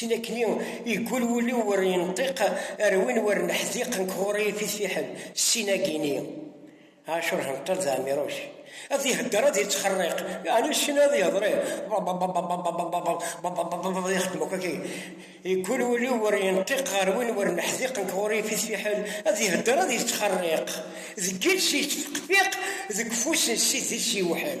Chin akni yeggul wul-iw ur yenṭiq ar win ur neḥdiq nekk ɣur-i ifit fiḥel ssin-agi-ni. Ɛacur henṭal d Ɛmiruc. Ad ihedder ad yettxerriq. Yeɛni chin ad yehder i ad yexdem akk akken. Yeggul wul-iw ur yenṭiq ar win ur neḥdiq nekk ɣur-i ifit fiḥel ad ihedder ad yettxerriq. Deg yiles yettfeqfiq deg ufus n ssid-is yewḥel.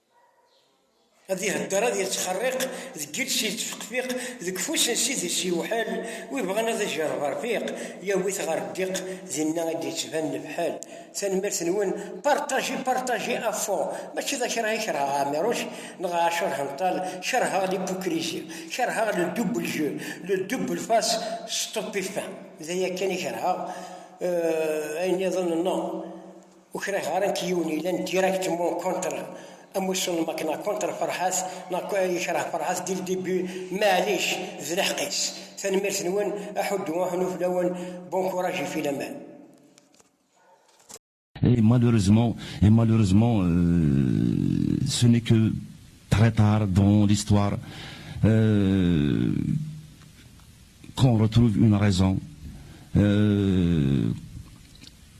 Ad ihedder ad yettxerriq deg iles yettfeqfiq deg ufus n ssid-is yewḥel wi ibɣan ad ijerreb rfiq yawi-t ɣer ddiq dinna i d-yettban lefḥel Tanemmirt-nwen partager partager à fond Mačči d akrah i kerheɣ Ɛmiruc neɣ Ɛacur Henṭal kerheɣ l'hypocrisie kerheɣ le double jeu le double face stupéfin d aya kan i kerheɣ ayen niḍen non Ur kriɣ ara nekk yiwen yellan directement contre amussu n Makna, contre Ferhat, neɣ yekreh Ferhat dès le début, maɛlic, d lḥeqq-is. Tanemmirt-nwen, aḥuddu aḥunnu fell-awen, bon courage et filaman. Et malheureusement, et malheureusement, ce n'est que très tard dans l'histoire qu'on retrouve une raison